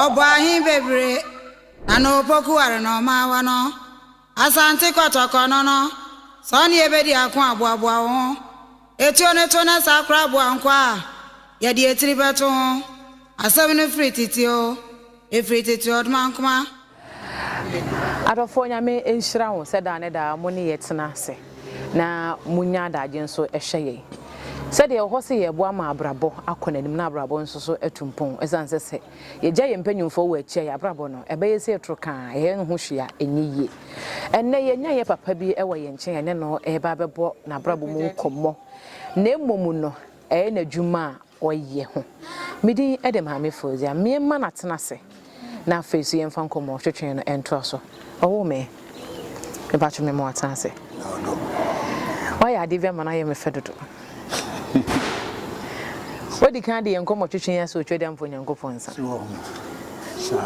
Ɔbɔ ahe bebree na na opoku ware na ɔma awa no. Asante Kɔtɔkɔ no no, sɛ ɔne yɛ bɛdi ako a, boaboa wo ho. Etuo no to na saa koraa boa nkoa a yɛde etiri bɛto ho. Asɛm no firi tete oo. Efiri tete ɔdmankomma me no. Adɔfoɔ Nyame nhyira mo sɛ daa ne daa mo ne yɛ tena ase na mo nya adagye nso hwɛ yɛn. Sɛdeɛ yɛwɔ hɔ sɛ yɛ boa ma abrabɔ akɔ n'anim na abrabɔ nso so atu mpɔn ɛsiane sɛ sɛ yɛ gya yɛ mpanyinfoɔ wɔ akyi a yɛ abrabɔ no ɛbɛyɛ sɛ ɛtoro ka a yɛ ho hwee a ɛnyɛ yie. Ɛnnɛ yɛ nya yɛ papa bi ɛwɔ yɛ nkyɛn a yɛne no ɛreba abɛbɔ n'abrabɔ mu nkɔmmɔ na mmom no Ɛyɛ n'adwuma a ɔyɛ ho. Me din de Maame Fauziah. Me mma no atena ase na afei nso yɛmfa nkɔmmɔ twetwee no ntoa so. Ɔwoo me. Me ba atwe me ma watena ase. Wayɛ adeɛ bi ama no ayɛ me fɛ dodo. Wadi kan de yɛn nkɔmmɔ twetwee ase wɔ Twadi Ampa Onyankopɔn nsa.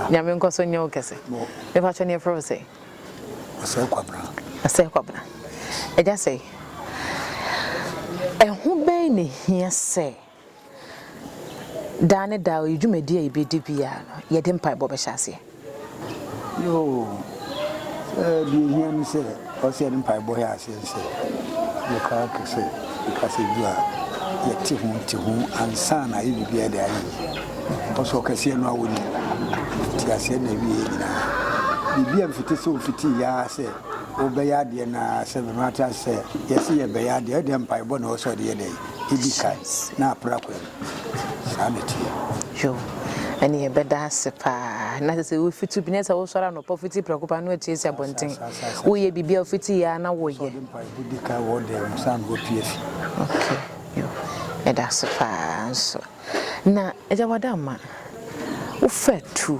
Nyame nkɔ so nyɛ wo kɛse. Me ba atwe ne yɛfrɛ wo sɛ. Ɔsɛe Kwabena. Ɔsɛe Kwabena. Agya Sɛe, ɛho bɛn na ɛhia sɛ daa ne daa ɔyɛ dwumadie a yɛbɛdi biara no, yɛde mpaebɔ bɛhyɛ aseɛ? Yoo, sɛ deɛ ɛhia ne sɛ ɔsɛ yɛde mpaebɔ hyɛ aseɛ. Ɛne sɛ, nokware ka sɛ, kasa du a yɛte ho te ho ansa na ayɛ biribiara de ayɛ yie. Ɛwɔ sɛ ɔkɛseɛ no ara ɔnim, nteaseɛ na ɛwieɛ nyinaa. Biribi a mfiti sɛ ɔfitii ara sɛ wobɛyɛ adeɛ no ara sɛ me mate ase sɛ yɛse yɛbɛyɛ adeɛ a, ɛdeɛ mpaebɔ na ɛwɔ sɛ ɔde yɛ dɛn? Ɛdi kan na apra kwan. Saa na ɛteɛ. Yoh. Ɛnneɛ ɛbɛda ase paa. Na ɛsɛ sɛ wofi tu bi, na ɛsɛ sɛ wosɔre anɔpa fiti prɛko pɛ na woatu asi abɔnten. Saa, saa, saa. Woyɛ biribi a wofiti yɛ ara na woyɛ. Wosɔ de mpae de di kan wɔ dan mu ansa na woapue afi. Okay, yoh. Ɛda ase paa nso. Na Agya Wada Ama, wofaa tu.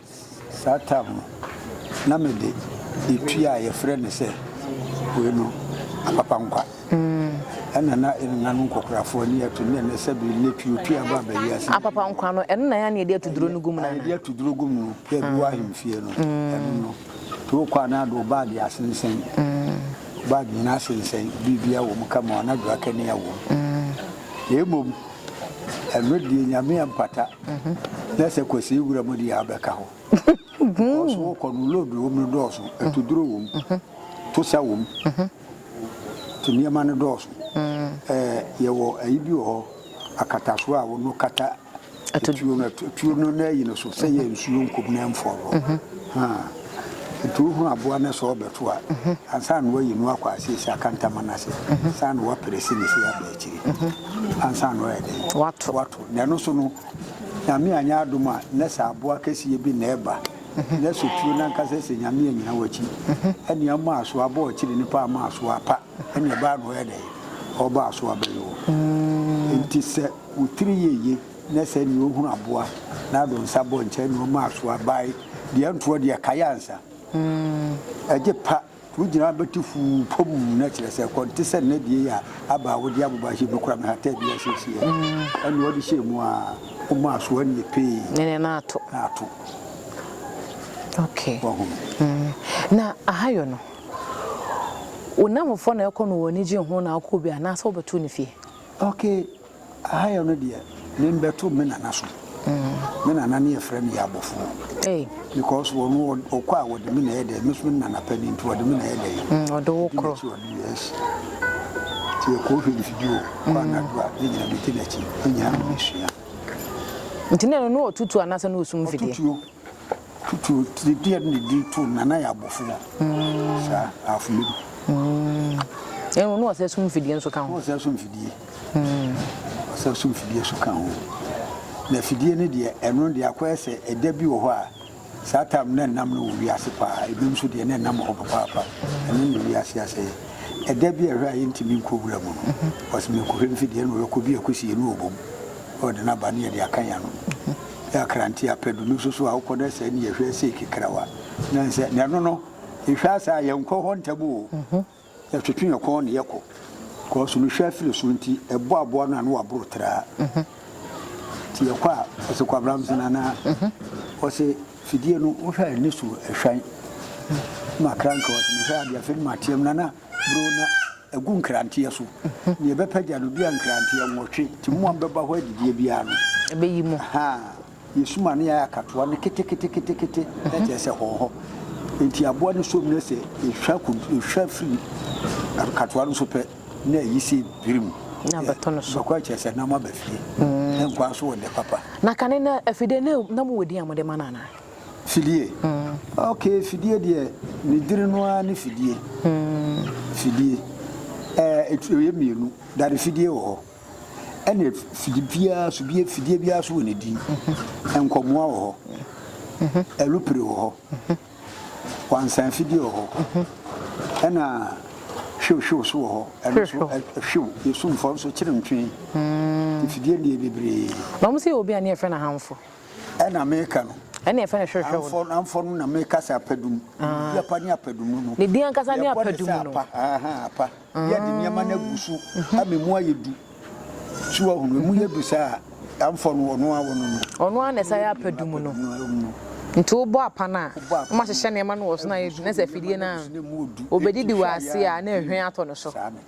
Saa tam no, na mede etua a wɔfrɛ no sɛ wei no Apapankwa ɛna na nna no nkɔkorafoɔ ani atu ne ɛnɛ sɛ bi nnɛ tuotua ba aba wiase. Apapankwa no, ɛno na ɛyɛ a na yɛde ato duro no gu mu no anaa? Yɛde ato duro gu mu yɛ bi wɔ ahemfie no, ɛno no. Nti wokɔ a na wode wo baage asensɛn, wo baage nyinaa asensɛn, biribiara wɔ mu kama, na adwowakani wɔ mu. Na mmom ɛno deɛ Nyame ampata. Na sɛ kwasii wura mu deɛ a bɛka hɔ because wo kɔ no load wɔ mu no dɔɔso, atuduro wɔ mu, tosa wɔ mu, nti nneɛma no dɔɔso. Yɛwɔ ayi bi wɔ hɔ akatasoɔ a wo no kata atuo no, atuo no na ayi no so sɛ yɛ nsuo nkɔ mu na ɛmfɔɔ hɔ haa. Nti wo hunu aboa no sɛ ɔrebɛto a, ansa na wayi no akɔ aseɛ si akantama no ase, saa na waprɛsi no si aba akyire ansa na wayɛ dɛn? Wato. Na ɛno so no, Nyame anyɛ adom a, na sɛ aboa kɛseɛ bi na ɛba, na sɛ tuo no ankasa sɛ Nyame annyina w'akyi, ɛnneɛ ɔma asoa ba ɔkyere nipa ama asoa pa, ɛnneɛ ɛbaa na ɔyɛ dɛn? Ɔba asoa ba yi hɔ. Enti sɛ wo tiri yɛ ye, na sɛ ɛnneɛ ɔhunu aboa, na ado nsa bɔ nkyɛ, ɛnneɛ ɔma asoa bae, deɛ ntoɔ deɛ kae ansa, ɛgye pa. Wo gyina bɛtu fuu pom na kyerɛ sɛ kɔ nte sɛ nna die a aba a wode aboba hyɛ mu kora me hataa bi asiesie ɛ. Ɛnna ɔde hyɛɛ mu a ɔma aso anne pee. Ɛnna na ato. Na ato. Okay. Wahu. Mm. Na ahayɔ no, wo nnamfofoɔ na ɛkɔ no wɔn ani gye ho na wokɔ bi anaasɛ wobɛto ne fie? Okay. Aha yɛ no deɛ me mbɛto me nana so me nana no yɛfrɛ no Yabofoɔ because ɔno ɔkɔ a ɔde me na ɛyɛ dɛn me so me nana pɛ no nti ɔde me na ɛyɛ dɛn mm, ɔde wo korɔ yes nti yɛkɔ hwɛ mfidie o kɔ mm. anadwo a ne nyina medi n'akyi ne nyina no mesua nti na ɛno ne ɔtutuo anaasɛ ne ɔsum mfidie Tutu tiri deɛ ne de di to nana yɛ abofoɔ saa afili no. Ɛnu na ɔsɛ so mfidie nso ka ho. Na ɔsɛ so mfidie ɔsɛ so mfidie nso ka ho na fidie ne deɛ ɛno deɛ akɔyɛ sɛ ɛda bi wɔ hɔ a saa tam na ɛnam no wɔ wiase paa ebi nso deɛ na ɛnam hɔ papaapa ɛno ne wiase asɛ ɛda bi ɛhwɛ a yɛntumi nkɔ wura mu no ɔsɛ mekɔhwɛ mfidie na ɔyɛkɔ bi akɔsie no wɔ bom ɔde no aba ne yɛde aka yɛ ano. yɛ akrante apɛ do no so so a wokɔ na sɛ nnyɛ hwɛ sei kekrawa na nsɛ na ɛno no ehwɛ ase a yɛnkɔ hɔ ntɛm o yɛtwetwe yɛn kɔn na yɛkɔ kɔɔso no hwɛ afiri so nti ɛbɔ aboa no a na waboro traa nti yɛkɔ a ɔsɛ kɔ abram sena na ɔsɛ fidie no wohwɛ a ɛne so ɛhwan ma kranka ɔsɛ mehwɛ adeɛ afei no mateam nana buro na agu nkranteɛ so. Nea ɛbɛpɛ gya no dua nkranteɛ nwɔtwe, nti mo a mobɛba hɔ adidie biara no, ɛbɛyi mo. Ha, yɛsum a na yɛayɛ akatoa no keteketekete, na kyerɛ sɛ hɔhɔ. Enti aboa no som na sɛ ɛhwa kun, ɛhwa firi akatoa no so pɛ, na ayi sɛ birim. Na abɛto no so. Bɛkɔ a kyerɛ sɛ na moaba fie. Ɛnkɔ ara so wɔ nnɛ papa. Na kane no afidie no, na mowɔ din a mode ma no anaa? Fidie? Ok, fidie deɛ mediri no ara ne fidie. Fidie ɛɛ ɛyɛ mmienu, dade fidie wɔ hɔ ɛna fidie biara so bie fidie biara so wɔ ne din. Nkɔmoa wɔ hɔ, ɛlupire wɔ hɔ, wansan fidie wɔ hɔ ɛna hwiw hwiw so wɔ hɔ ɛno so hwiw yɛsumfɔ nso kyerɛ ntwee. Fidie deɛ bebree. Na wɔn sɛ yɛ obi a ne yɛfrɛ no ahanfo. na meka no. Ɛnna yɛfrɛ no hwehwɛ wo no. Amfɔ no na meka sɛ apadum. Biribi apa ne apadum no. Ne din ankasa ne apadum no. Yɛbɔ ne sɛ apa, ahaa, apa. Yɛde nneɛma no agu so ama emu ayɛ du. So wahu no? Emu yɛ du saa a, amfɔ no, ɔno ara wɔ no no. Ɔno ara na ɛsan yɛ apadum no. Nti wobɔ apa no a, na wɔahyehyɛ nneɛma no wɔ so na ayɛ du, na sɛ afidie no a, ɔbɛdidi wɔ ase a na nhwen atɔ no so.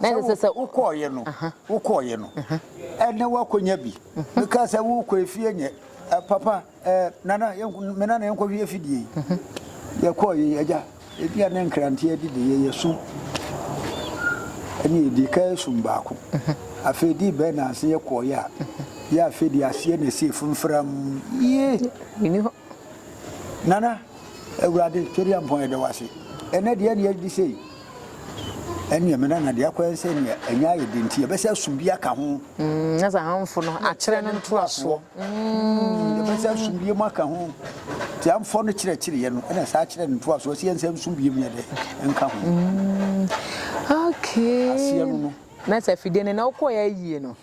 na ɛsɛ sɛ. sɛ wokɔɔeɛ no, wokɔɔeɛ no, ɛnɛ woakɔnya bi. Mekaa sɛ worekɔ efie nyɛ, ɛ, papa, ɛ, nana, yɛn, me nana yɛnkɔhwɛ afidie yi. Yɛkɔɔ yei, agya, ebi a ne nkrante adi de yɛ yɛsu ɛne ɛdi ka ɛsum baako. Afei di bɛn na ase yɛkɔɔeɛ a, yɛ afei de aseɛ na ɛsi fimfiram yie. Ɛni hɔ. Nana, Awurade, Twɛdiampɔn yɛda wo ase. Ɛnɛ deɛ ɛne ɛdi sei. ɛne ɛmena na deɛ akɔyɛ sɛ nea ɛnyɛ ayɛ de nti yɛbɛsɛ asum bi aka ho. Mm, na sɛ hamfo no akyerɛ no ntoasoɔ. Mm, yɛbɛsɛ asum bi mu aka ho. Ti hamfo no kyerɛkyerɛeɛ no ɛna saa kyerɛ no ntoasoɔ sɛ yɛnsɛ nsum bi mu yɛ dɛ nka ho. Mm, okay. Aseɛ no no. Na sɛ afidie no na wokɔeɛ ayie no,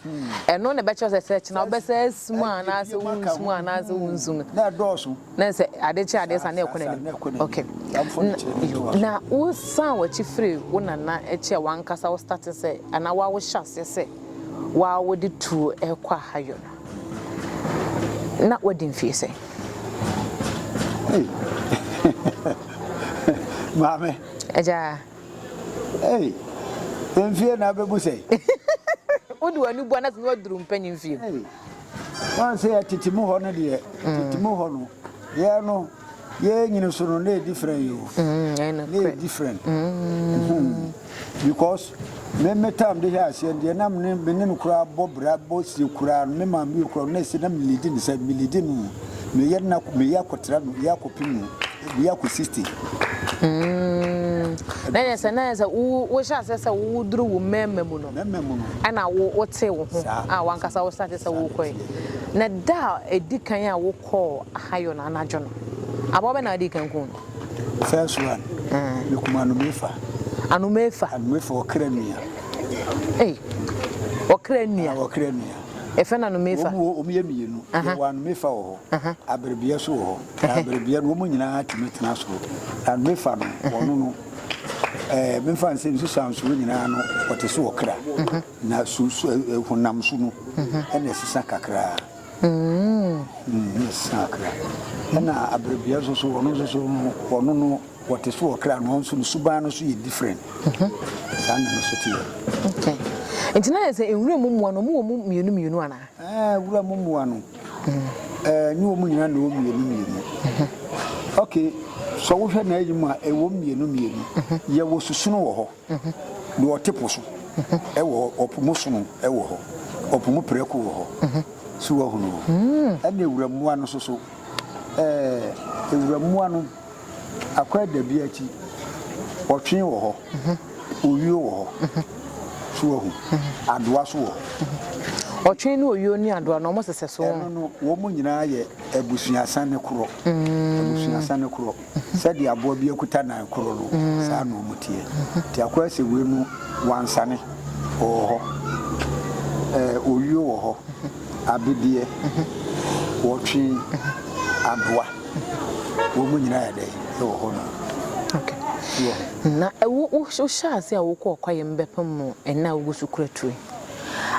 ɛno na ɛbɛkyerɛ sɛ sɛ kyena wobɛsa asu mu anaasɛ wonsu mu anaasɛ wonsu mu. Na ɛdɔɔso. Na sɛ ade kye adeɛ sa na ɛkɔ n'anim. Ok. Na wo san w'akyi firi wo nana akyi a w'ankasa wo starte sɛ anaa woa wo hyɛ aseɛ sɛ woa wo de tuo ɛkɔ ahayɔ no, na w'adi mfie sɛn? Ei! Maame! Agyaa! Ei, mfie na abɛbu sɛn? Wode w'ani bua no ase na woaduru mpanyin fie mu. Ei, woahu sɛ yɛ tete mu hɔ no deɛ, tete mu hɔ no, yɛn no, yɛn nyini so no, na ɛyɛ different o. Na ɛyɛ different. Because me me time de hwɛ aseɛ no deɛ, na me ne no koraa bɔ bra, bɔ sie koraa no, me maame yi koraa no, na ɛsɛ na me leadi no sɛ, me leadi no o, me yɛ no na, me yɛ akɔtra no, yɛ akɔpem no. Bia kɔ sixty. Umm na yɛ sɛ na yɛ sɛ wo wo hyɛ aseɛ sɛ wo wo duru wo mmɛɛma mu no Mɛma mu no. ɛna wo wo tee wo ho Saa. a wankasa wo start sɛ wo kɔɛ na da a ɛdi kan a wo kɔɔ ahayɔ no anadwo no aboa bɛ na adi kan kuu no First one me kum anomefa. anomefa Anomefa ɔkra nua. ei ɔkra nua Ah ɔkra nua. yɛfrɛ no anomefa Wɔn wɔ wɔn yɛ mmienu. Aha. Yɛwɔ anomefa wɔ hɔ. Aha. Aberebeɛ nso wɔ hɔ. Na bere biara no wɔn nyinaa tumi tena soro, na no mefa no wɔn no ɛɛ mefa no sɛ nsusuansoɔ nyinaa no wɔte sɛ ɔkra, na su su ɛɛ honam su no ɛna ɛsesa kakraa. Mm, ɛsesa kakra. Ɛna bere biara nso so wɔn nso so no wɔn no wɔte sɛ ɔkra no nso no suban no so yɛ different. Saa na no so teɛ. Okay. Nti na yɛ sɛ nwura mu mmoa no wɔn wɔ mu mmienu mmienu anaa? Ɛɛ nwura mu mmoa no. Ɛɛ, ne wɔn nyinaa na ɛwɔ mmienu mmienu. Ok, sɛ wohwɛ n'ayi mu a, ɛwɔ mmienu mmienu. Yɛwɔ susono wɔ hɔ, deɛ ɔte po so wɔ hɔ, ɔpo mu sono wɔ hɔ, ɔpo mu prɛko wɔ hɔ. So woahunu? Ɛnna awurammoa no nso so, ɛɛ, awurammoa no. Akwaadabiati, ɔtwe wɔ hɔ, owio wɔ hɔ, so wahu? Adoa so wɔ hɔ. Ɔtwe ne owio ne adoa no, wɔn sesɛ so. Ɛno no, wɔn nyinaa yɛ abusuasane korɔ, abusuasane korɔ. Sɛdeɛ aboa bi akuta nan korɔ no, saa na wɔn teɛ. Nti Akwaa sɛ wei no, wansane, ɔwɔ hɔ. Ɛɛ, owio wɔ hɔ, abedeɛ, ɔtwe, adoa. Wɔn nyinaa yɛ dɛn wɔ hɔ no? Ná wohyɛ ase a wokɔ kwaeɛm bɛpem mo ɛnna a wogu so kura tuo yi.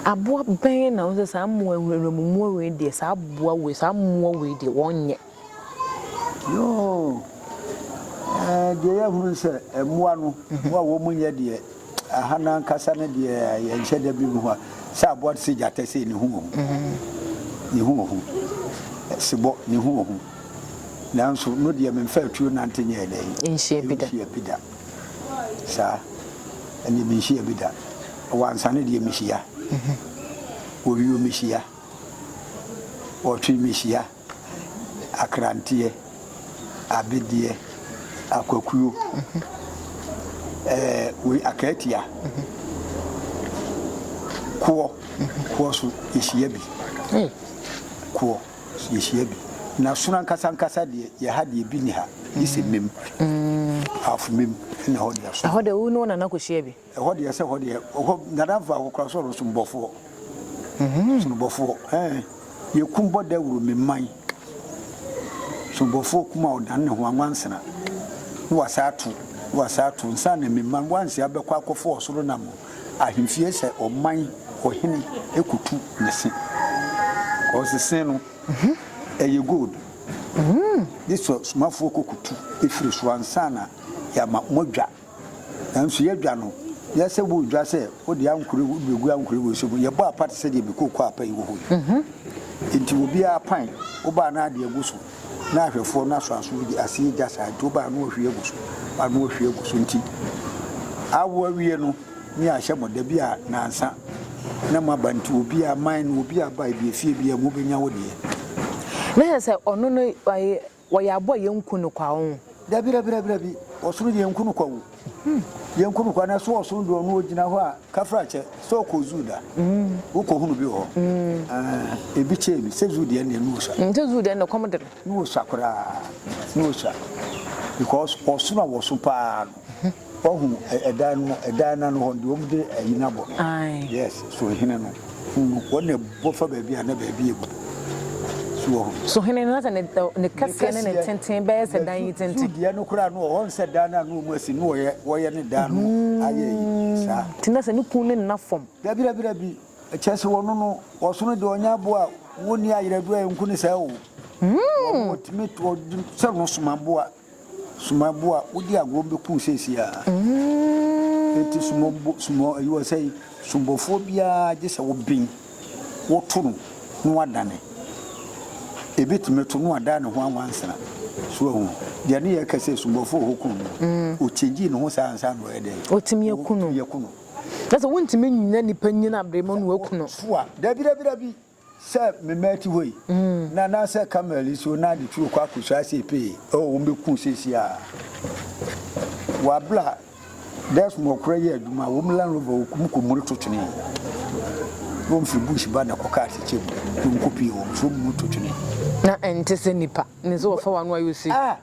Aboa bɛn na wohu sɛ saa mmoa yi, nwurammoa wei deɛ, saa aboa wei, saa mmoa wei deɛ, wɔnyɛ? Yoo, ɛɛ, deɛ yɛahunu ne sɛ mmoa no, mmoa a wɔnyɛ deɛ, Aha no ankasa no deɛ yɛnhyɛ da bi hu a, sɛ aboa te sɛ gyata sei ne ho wɔ hu, ne ho wɔ hu, sebɔ ne ho wɔ hu, nanso no deɛ memfaa tuo nante nyɛɛ dɛn? Nhyia bi da. Nhyia bi da. Saa, ɛnneɛ menhyia bi da. Wɔ ansa no deɛ mehyia, wɔ wio mehyia, wɔ twi mehyia. akranteɛ, abedeɛ, akwakuo, ɛɛ wei akaatia, koɔ, koɔ so yɛhyia bi, koɔ so yɛhyia bi. Na sono ankasa ankasa deɛ yɛ ha deɛ bi ni ha, gye sɛ mmam, afomam na ɛhɔ deɛ sono. Ɛhɔ deɛ wo ne wo nana kɔhyia bi. Ɛhɔ deɛ sɛ hɔ deɛ hɔ dada faako koraa sɛ ɔno sombɔfoɔ sonobɔfoɔ eh yɛkum bɔ dawuro me mman sonobɔfoɔ kum a ɔdane ne ho anwansena na wasan ato na wasan ato nsa na me mman wansi abɛkɔ akɔfo ɔsoro nam ahemfie sɛ ɔman ɔhene ɛkutu ne se ɔse se no ɛyɛ gold de sɛ somafoɔ kɔkutu ɛfiri so ansa na yɛama moadwa Nanso yɛdwa no, yɛ sɛ woredwa sɛ wode ankorɛ wode bɛgu ankorɛ wɔ nsuo mu. Yɛbɔ apa te sɛ deɛ me kookoo apa yi wɔ hɔ yi. Enti obiara pan wo baa na adeɛ gu so, na ahwɛfoɔ no asɔ aso de aseɛ gya saa nti wo baa no ɔhwie agu so, baa no ɔhwie agu so nti awo awie no ne ahyɛ mo da bi a nansa na moaba nti obiara man no obiara ba ebi efie bi a mobɛnya wo deɛ. Na kyerɛ sɛ ɔno no Wɔ yɛ abɔ yɛ nku no kwa oo. Dabi dabi dabi dabi ɔsono yɛ nku no kwa oo yɛ nku no kwa na so ɔsono deɛ ɔno ɔgyina hɔ a kafrakyɛ sɛ ɔkɔ zoo da wo kɔ hunu bi wɔ hɔ aah ebi kyɛɛ bi sɛ zoo deɛ nneɛ ne ɔsua sɛ zoo deɛ nneɛ kɔm de no ne ɔsua koraa ne ɔsua because ɔsono a wɔso paa no. Hɛ wahu ɛ ɛdan no mu ɛdan no ano hɔ no deɛ wɔn de ayi no abɔ no Ae. yes so hene no hu no wɔn na ɛbɔ fa baabi a na baabi yɛ bu so wɔ hɔ. So hene no na sɛ ne ɛ ne kɛseɛ ne ne tenten bɛyɛ sɛ dan yi tenten. Su deɛ no koraa no ɔhɔ nsɛ dan no a na wɔn asi no wɔyɛ wɔyɛ ne dan no ayɛ yi saa. Hmm nti na sɛ ne kun ne nna fam. Dabi dabi dabi ɛkyerɛ sɛ wɔn no ɔsono deɛ ɔnyɛ aboa a wɔn nni ayerɛdoɔ a ɛnku ne saa o wɔn Hmm. wɔtumi to ɔde sɛ no soma aboa Sumɔ bo a wodi agorɔ bɛku wo seesei ara. Enti sumɔ bo, sumɔ ayi wɔ sɛe, sumɔfoɔ biara gye sɛ woben, woto no na wadane. Ɛbɛtumi to na wadan ne ho anwansa. So wahu? Deɛ ne yɛreka sɛ sumɔfoɔ a wɔku no no, ɔkyɛngyi ne ho saa ansa na ɔyɛ dɛn? Ɔtumi aku no. Ɔtumi aku no. Kyerɛ sɛ wontumi nnyina nipa nyini aberɛ mu na waku no. So a? Dabi, dabi, dabi. Sɛ me mma ɛte hɔ yi, na na sɛ Carmel yi so na ade tu rekɔ akɔsu ara sei pee, oh, wɔbɛku wo seesei ara. Wɔabla Desmond koraa yɛ adwuma, wɔn Land Rover wɔkum kɔmmuri to twene, na wɔfiri bush ba na ɛkɔkaa atɛkyɛ mu, na wɔkɔpie wɔn, so wɔn mu to twene. Na ɛnte sɛ nnipa, ne sɛ wɔfa w'ano ayɛ ose. Ah!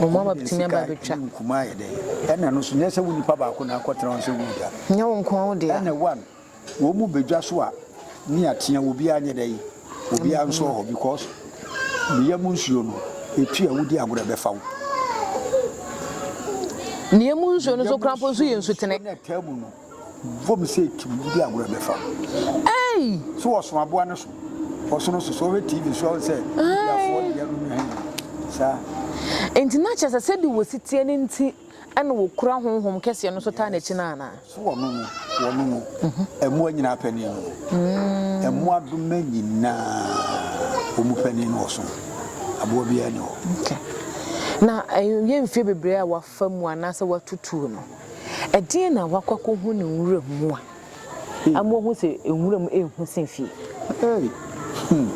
Wɔn a wɔbɛtumi aba abɛtwa. Ɛna no nso, nyɛ sɛ wo nipa baako na akɔtena hɔ sɛ woredwa. Nyɛ wo nko ara wo dea. Ɛna one, wɔn mu bɛdwa so a, ne atea obiara nyɛ dɛn? Obiara nsɔ hɔ because ne yam nsuo no, ɛtu a wodi agorɔ ɛbɛfa wo. Ne yam nsuo no nso koraa mpo nso yɛ nsutene. Vɔm sɛ etum de agorɔ bɛfa wo. Ei! So wɔso aboa no so? Wɔso no so. So wɔhwɛ TV so a wohu sɛ Indiafoɔ deɛ no nyɛ hene. Saa. Enti na kyerɛ sɛ sɛdeɛ wɔsi teɛ no nti na wɔkura honhom kɛseɛ no so taa n'akyi no anaa? So wɔno no? Wɔno no. Mmoa nyinaa panin no no. Mmoadoma nyinaa wɔn panin no wɔso no. Aboa biara nni hɔ. Okay. Na ɛnyɛ mfeɛ bebree a wɔafa. Fa mu anaasɛ woatutuo no. Ɛdeɛn na woakɔ akɔhu no nwura mu a ama woahu sɛ nwura mu yɛ hu sen fie? Ei! Hmm.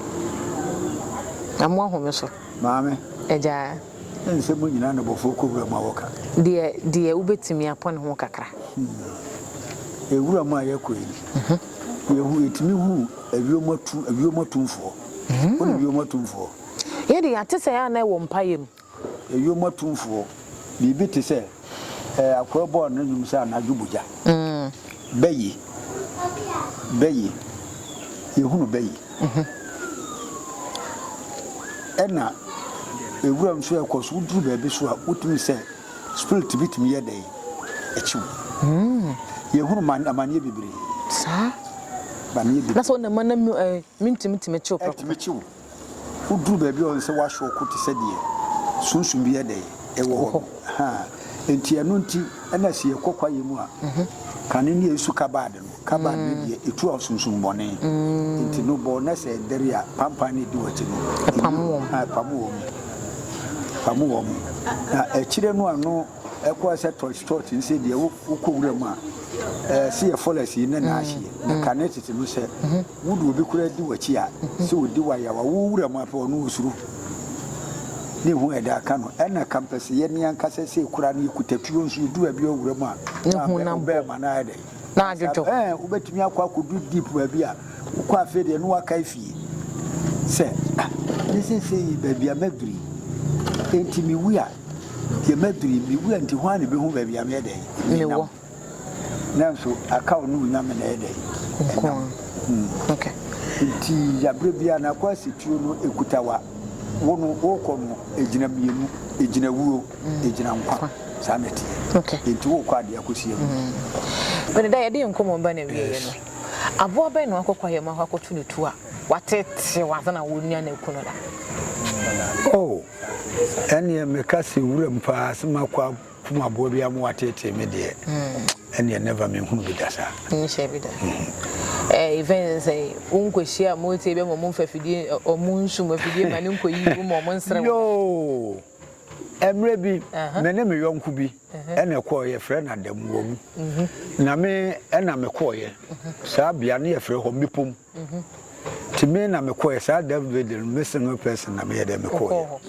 Na moahome so. Maame. Agya. Ɛnsɛ monyina na abɔfoɔ kɔ wura mu a wɔka. Deɛ, deɛ wobɛtumi apɔ ne ho kakra. Hmm. E, wura mu a yɛkɔ yi. Hmm. Yɛhu, yɛtumi hu awiom atum, awiom atumfoɔ. Hmm. Wone wiom atumfoɔ. Yɛde, yɛate sɛ yɛ a na ɛwɔ mpaeɛ mu. Ewiem atumfoɔ, biribi te sɛ ɛɛ akoa bɔɔ ne nnwom sɛ anadwo bogya. Bɛ yi, bɛ yi, yɛhunu bɛ yi. Ɛna ewura nso ɛkɔ so, woduru baabi so a wotumi sɛ spirit bi tumi yɛ dɛn? Ɛkye wo. Yɛhunu ma amaneɛ bebree. Saa? Amaneɛ bebree. Na sɛ wo na ma na ɛɛ mentumi tumi kye wo prɛko pɛ. Ɛtumi kye wo. Woduru baabi a ɔyɛ sɛ woahyɛ ɔko te sɛ deɛ sunsum bi yɛ dɛn wɔ hɔ. Enti ɛno nti na sɛ yɛkɔ kwaeɛ mu a, kane ne yɛsu kabad no. Kabad no deɛ ɛtu a sunsum bɔne nti no bɔ na sɛ ɛdɛre a pampan no ɛdi w'akyi no ɛpamo wɔn. Ɛpamo wɔn na akyire no ano. Ɛkɔɔ sɛ Tolstot nse deɛ wokɔ wura mu a, se yɛ forest yi ne n'ahyeɛ, na kane tete no sɛ wodeɛ obi koraa di w'akyi a, sɛ ɔdi w'ayaw a, wo wura mu a pɛ ɔno ɔsuro ne ho a ɛde aka no, ɛna kampɛseyɛ ne ankasa sei koraa no yɛkuta tuo nso yɛdu baabi wɔ wura mu a, na ɔbɛɛma no ayɛ dɛn? na adwodwo. Ɛɛ wobɛtumi akɔ akɔduru deep baabi a wokɔ afei deɛ ne wakae fie sɛ ah ne seesei yi baabi a maduru yi enti mewu a deɛ maduru yi mewu a nti hwan na ɛbɛhu baabi a meyɛ dɛn menam nanso aka wo ne wo nyame na ɛyɛ dɛn ɛnam hmm. nti yaberɛ biara na akɔ asɛtuo no ɛkutawa wo no wokɔ no ɛgyina mmienu ɛgyina wuo egyina nkwa saa na ɛteɛ okay nti wokɔ adeɛ akɔsi agu bɛne da yɛde nkɔmmɔ ba na wieɛ no aboa bɛn na wakɔkɔ ayɛ mu akɔ akɔto no tu a watetew ansa na wɔnua no aku no da oh ɛneɛ meka sɛ wuram paa sɛ makɔ kum aboa bi ama wateetee me deɛ hmm. ɛneɛ never menhunu bi da saa nhyɛ bi da hmm. eh, even sɛ wonkɔhyia a motie bɛ ma ɔmo mfa fidie ɔmo nsum afidie ma ne nkɔyi wo ma ɔmo nsrɛ wo Mmerɛ bi, me ne me yɔnko bi na ɛkɔɔɛ, yɛfrɛ no Adamuwa mu. Na me na mekɔɔɛ saa bea no, yɛfrɛ hɔ Mmepom. Nti me na mekɔɔɛ, saa da no deɛ me single person na meyɛ dɛ mekɔɔɛ.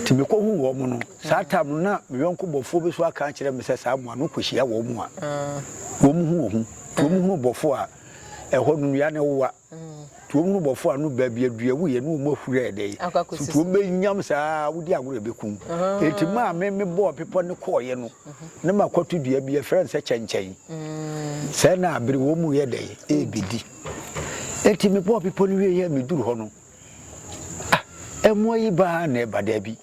Nti mekɔhuu wɔn no, saa time no na me yɔnko bɔfoɔ bi nso aka akyerɛ me sɛ saa mmoa no wokɔhyia wɔn a, wɔhu wɔn ho. Nti wɔhunu bɔfoɔ a, ɛhɔ no nnua no wowa. Tuom no bɔfo ano baa bi adua wu yɛ ne wɔn ahuri ayɛ dɛ so tuom bɛ nyam saa wodi agorɔ ebe kum eti maa me me bɔɔ bepɔ ne kɔɔ yɛ no ne ma kɔto dua bi yɛ frɛ nsɛ kyɛnkyɛn sɛ na abiri wɔn mu yɛ dɛ ebe di eti me bɔɔ bepɔ ne wie yɛ me duru hɔ no ah ɛmoa yi baa na ɛba dɛ bi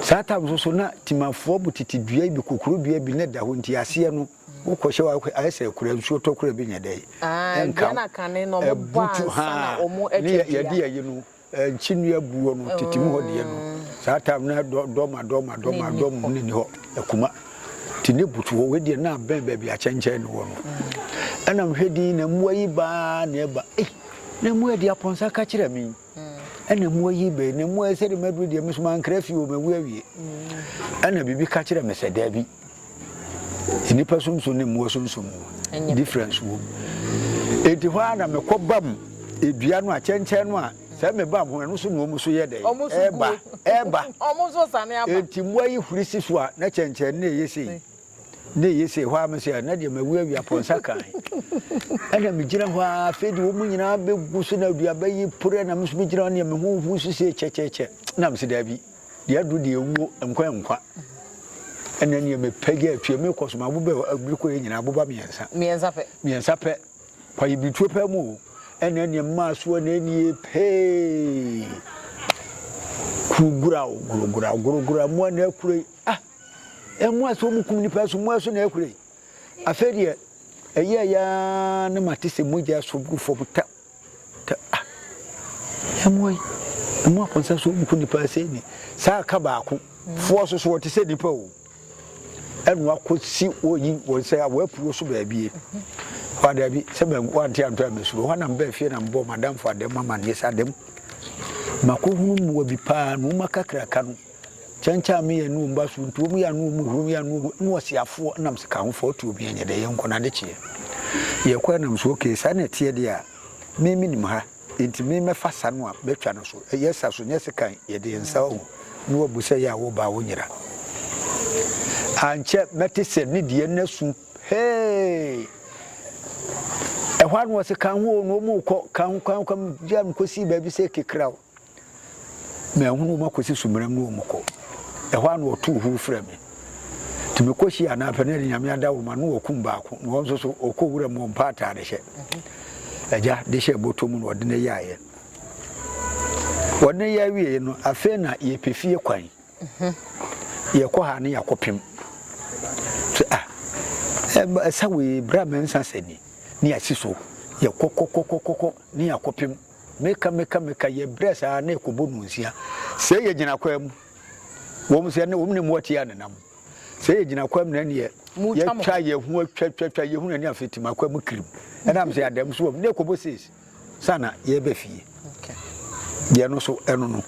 saa tam so so na timafoɔ bu tete dua bi kokoro dua bi ne da hɔ nti aseɛ no. Wokɔ hyɛ w'akoa ayɛ sɛ kura nsuo tɔ kura bi nyɛ dɛ nka butu haa ne yɛde yɛyi no nkyi nnua buo no tete mu hɔ deɛ no saa tam no dɔ dɔ ma dɔ ma dɔ ma dɔ mu ne ni hɔ akuma ti ne butu hɔ wei deɛ na abɛn baabi akyɛnkyɛn no wɔ no ɛna mehwɛ din na mmoa yi baa na ɛba ei na mmoa di apɔnsa ka kyerɛ me Ɛna mu ayi bɛ na mu ayɛ sɛdeɛ maduru deɛ me so mankra fie o mawu awie. Ɛna biribi ka kyerɛ me sɛ daabi nnipa sunsum ne mmoa sunsum no difference wom. Enti hɔ ara na mekɔ bam edua no a kyɛnkyɛn no a sɛ meba ho ɛno so na wɔn so yɛ dɛ ɛba ɛba. Enti mmoa yi huri si so a na kyɛnkyɛn no na ɛyɛ sei. na ɛyɛ sei hɔ a me sɛ ah, na deɛ mawu awia pɔnsa kan ɛna megyina hɔ a afei de wɔn nyinaa bɛgu so na aduaba yi pore na me nso megyina hɔ neɛ me ho hu so sɛ kyɛkyɛkyɛ na mesɛ daabi deɛ aduru deɛ ɛwuo nkwa nkwa ɛna neɛ mepɛgya atue mekɔ so mabobɛ abirikɔ yɛ nyinaa boba mmiɛnsa mmiɛnsa pɛ kwaye birituo pɛ mu o ɛna neɛ mmaa so ɛna ɛnie pee kurugura o gurugura gurugura mu ɛna akure ah Mmoa so wɔn kum nipa so mmoa so na ɛkura yi afei deɛ ɛyɛ ya ne ma te sɛ mogya so gu fam ta ta ah mmoa yi mmoa kɔnsa so wɔn kum nipa sɛ ni saa aka baako foɔ so so wɔte sɛ nipa o ɛnu akɔ si wɔyi wɔn sɛ wɔapuro so baabi wada bi sɛ bɛn wante anto amesuro hɔ nam bɛɛ fie nam bɔ madamfo adɛm ama neɛ sɛ adɛm mako hunu mmoa bi paa na wɔn akakraka no Kyɛnkyɛnme yɛ ne wɔn ba so, ntuom yɛ ne wɔn hurom yɛ ne wɔn ne ɔseafoɔ nam sikahofoɔ to obi ɛnyɛ dɛ yɛ nkɔ n'adekyeɛ yɛkɔ nam so okay saa na ɛteɛ deɛ a me me nim ha nti me mɛfa sa no a bɛtwa no so ɛyɛ sa so nyɛ sekan yɛde yɛn nsa ɔho ne wabu sɛ yɛ a wo ba wo nyera ankyɛ mɛte sɛ ne deɛ na su hee ɛhɔ ano ɔse kan ho na ɔmu kɔ kan ho kan ho kan gya mkɔsii baabi sɛ kekra o Manhunu wɔn akɔsi Sumeram ne wɔn kɔ. Ɛhɔ ara na wɔtoo huo frɛɛ me. Nti mekɔ hyiaa anaa pɛ na ɛde Nyame ada wɔn ma na wɔkum baako na wɔn nso so wɔkɔ wura mu wɔmpɛ ataade hyɛ. Agya de hyɛɛ bɔtɔ mu na wɔde no yɛeɛ. Wɔde no yɛɛ wieɛ no, afei na yɛpɛ fie kwan. Yɛkɔ ha ne yɛakɔpem. Sɛ ah, ɛsa wei berɛ a mansa sɛ ni ne yɛasi so. Yɛkɔkɔkɔkɔkɔ ne yɛakɔpem. Meka meka meka yɛ brɛ saa na ɛkɔ bɔ mu nsia Sɛ yɛ gyina kwaa mu Wɔm sɛ na wɔm ne mmoa tia nenam Sɛ yɛ gyina kwaa mu na ɛneɛ Yɛ twa yɛ ho atwa twa twa yɛ hu na ne afe tim Akwa mu kirim ɛna m sɛ yɛ adam so wɔm na ɛkɔ bɔ sees Sana yɛ bɛ fie Deɛ no so ɛno no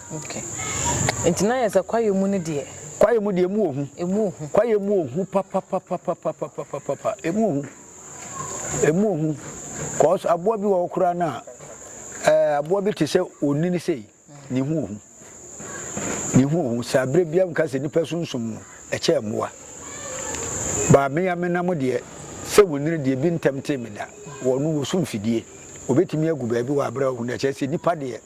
Nti na yɛ sɛ kwayɛ mu no deɛ. Kwayɛ mu deɛ ɛmu ɔhu. Ɛmu ɔhu. Kwayɛ mu ɔhu papapapapapapapapa ɛmu ɔhu. Ɛmu ohu, cause aboa bi wɔ hɔ koraa no a, ɛɛ aboa bi te sɛ onini sei, ne ho ohu. Ne ho ohu. Sɛ abere biara nka sɛ nipa sunsum no, ɛkyɛ mmoa. Baa me ya me nam deɛ, sɛ onini deɛ bi ntɛm tee me da. Wɔn no, wɔsu mfidie. Wɔbɛtumi agu baabi wɔ abere a ohu no, ɛkyɛ sɛ nipa deɛ.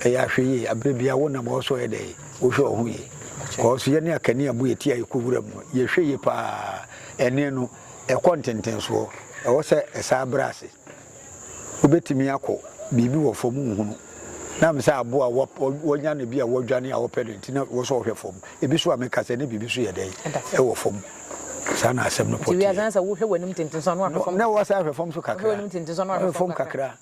Ɛyɛ ahwɛyie a berɛ biara wonam hɔ so yɛ dɛn? Wohwɛ wo ho yie. Kɔɔso yɛne akanea bu yɛ ti a yɛkɔ wuram no, yɛhwɛ yie paa. Ɛnne no, ɛkɔ ntentensoɔ. Ɛwɔ sɛ ɛsan brɛ ase. Wobɛtumi akɔ, biribi wɔ fam wonhunu. Na ɛm sɛ aboa a wɔanya no bi a wɔdwane a wɔpɛ no nti na ɛwɔ sɛ wɔhwɛ fam. Ebi so a meka sɛ na biribi so yɛ dɛn? Ɛwɔ fam. Saa na asɛm no pɔ teɛ. Na wasan ahwɛ fam so kakra. Ahwɛ fam kakra.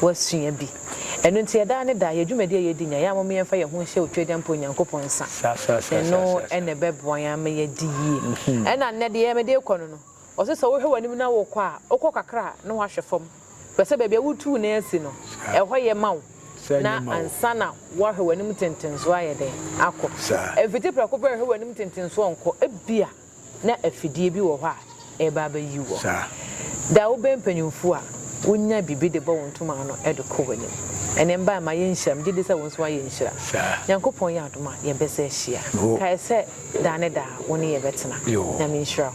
wɔasua bi. Ɛno nti, yɛ daa ne daa, yɛ dwumadi a yɛredi nyinaa, yɛ ara momma yɛmfa yɛn ho nhyɛ Otwedeɛ mpa Onyankopɔn nsa. Ɛno na ɛbɛboa yɛn ama yɛadi yie. Ɛna nnɛ deɛ mede rekɔ no no, wɔse sɛ wohwɛ w'anim na worekɔ a, wokɔ kakra a na woahwɛ fam. Hwɛ sɛ baabi a woretu wo nan asi no, ɛhɔ yɛ ma wo na ansa na woahwɛ w'anim tentensoɔ ayɛ dɛn akɔ. Mfiti prɛko pɛ hwɛ w'anim tentensoɔ nkɔ. Ebia na afidie bi wɔ hɔ a ɛreba abɛyi wo hɔ. Da a wobɛn mpanimfoɔ a, wonya biribi de bɔ wo ntoma ano de kɔ w'anim. Ɛnnɛ mma mma yɛnhyira, megye di sɛ wo nso woayɛ nhyira. Nyankopɔn yɛ adom a, yɛbɛsan ahyia. Kae sɛ daa ne daa wo ne yɛbɛtena. Nyame nhyira wo.